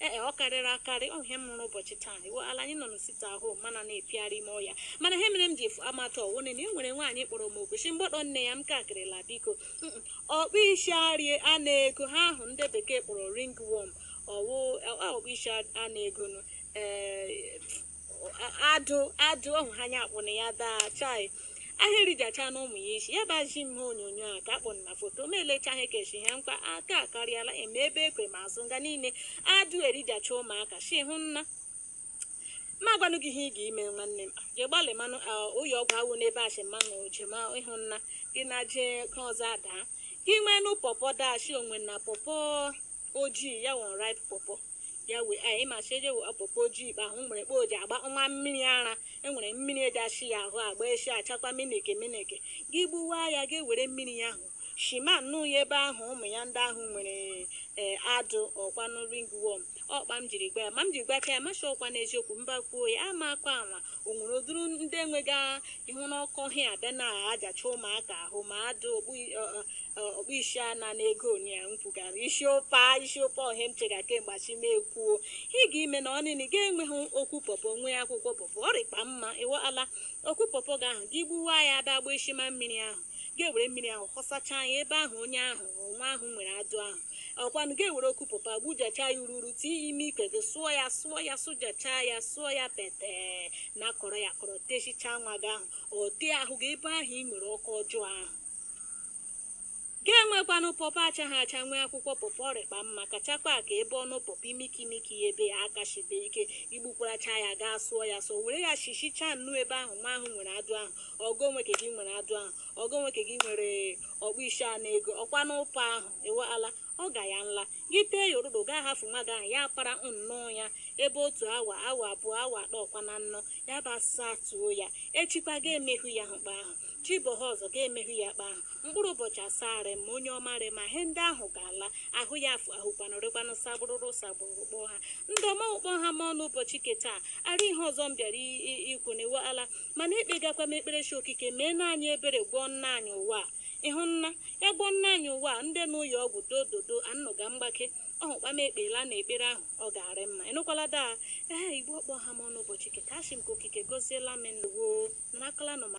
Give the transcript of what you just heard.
ee ọ karịrị akarị ọ ihe m hụrụ ụbọchị taa iwe ala anyị nọ na site ahụ mana na-epigharị ime ọhịa mana ihe mere m ji efu amata ọ wụ na e nwere nwaanyị kpọrọ m okwuchi mgbọdọ nne ya m ka akịrịla biko ọkpụ isi arie ana ego ihe ahụ ndị bekee kpọrọ ringworm ọ wụ ọkpụ isi ana ego nụ ee adụ adụ ọhụ ha anya akpụ na ya daa chai ha erijachaa nnụ ụmụ ya isi ya bazi m ha onyonyo a ka akpụ na foto ma elecha ha keshi ha nkwa aka akarịala eme ebe ekwe ma azụ nga niile adụ erijacha ụmụaka shi ị hụna ma gwanụ gị ihe ị ga-ime nwanne m je gbalị manụ ụyọ ọgwụ awụ n'ebe achị mmanụ je ma ị hụna gị na je ka ọzọ adaa gị nwenụ pọpọ dashi o nwena pọpọ ojii ya wụ unripe pọpọ bịa wee a ịmasị eje wee pọpọ ojii ikpe ahụ nwere kpa oji agba nwa mmiri ara enwere mmiri e ji esi ya ahụ agba esi achakwa miniki miniki gị gbuwa ya gị were mmiri ya ahụ shima nụ ya ebe ahụ ụmụ ya ndị ahụ nwere ee adụ ọkwanụ ringworm ọ kpa m jiri gwa ya ma m jiri gwacha ya m asị ọkwa n'eziokwu mba kwuo ya amakwa anwa o nwere ụdịrị ndị nwega ihu n'ọkọ ha abịa na ajacha ụmụaka ahụ ma adụ ọkpụ isi ana ego onye ya nkwugara isi ụpa isi ụpa ọ ihe m chega kemgbe asị m ekwuo ihe ị ga ime na ọnịnị ga enweghị okwu pọpọ nwee akwụkwọ pọpọ ọ rịkpa mma iwe ala okwu pọpọ ga ahụ gị gbuwa ya abịa gba isi ma mmiri ahụ ga-ewere mmiri ahụ họsachaa ya ebe ahụ onye ahụ nwa ahụ nwere adụ ahụ ọkwanụ ga-ewere okwu pọpọ gbujachaa ya ururu tie ya ime ikwe gị sụọ ya sụọ ya sụjachaa ya sụọ ya pete na kọrọ ya kọrọ techichaa nwa gị ahụ ọ tee ahụ gị ebe ahụ ị nwere ọkọ ọjọọ ahụ ga-enwekwanụ pọpọ achaghị acha nwee akwụkwọ pọpọ ọ rịkpa mma kachakwa ka ebe ọnụ pọpọ imikimiki ya ebe ya aka shibe ike igbukwaracha ya gaa sụọ ya sọ were ya shichichaa nnu ebe ahụ nwa ahụ nwere adụ ahụ ọ bụ nwa nke gị nwere adụ ahụ ọ bụ nwa nke gị nwere ọkpụ isi ana ego ọkwa n'ụpa ahụ iwe ala ọ ga ya nla gị tee ya ụrụrụ gaa hafụ nwa gị ahụ ya kpara nnọọ ya ebe otu awa awa abụọ awa atọ ọkwa na nnọ ya bịa satuo ya echikwa ga-emehụ ya ahụ kpa ahụ chi bọha ọzọ ga-emehụ ya kpa ahụ Mkpụrụ ụbọchị asaa rị mma onye ọma rị mma ihe ndị ahụ ga-ala ahụ ya afụ ahụkwanụ rekwanụ sagbụrụrụ sagbụrụrụ kpọọ ha ndị ọma ọ kpa ọ ha m ọnụ ụbọchị nke taa ara ihe ọzọ m bịara i- i- ikwu na iwe ala mana ekpegakwa m ekpere chi okike mee na anyị ebere gwọọ nna anyị ụwa a. ị hụna ya gwọọ nna anyị ụwa a, ndị n'ụlọ ọgwụ dododo anụga mgbake ọ hụkwa m ekpela na ekpere ahụ ọ ga-arị mma ịnụkwala daa ee igbo ọ kpa ọ ha m ọnụ ụbọchị ke taa asị m ka okike goziela m ndeewo narakala nọ ma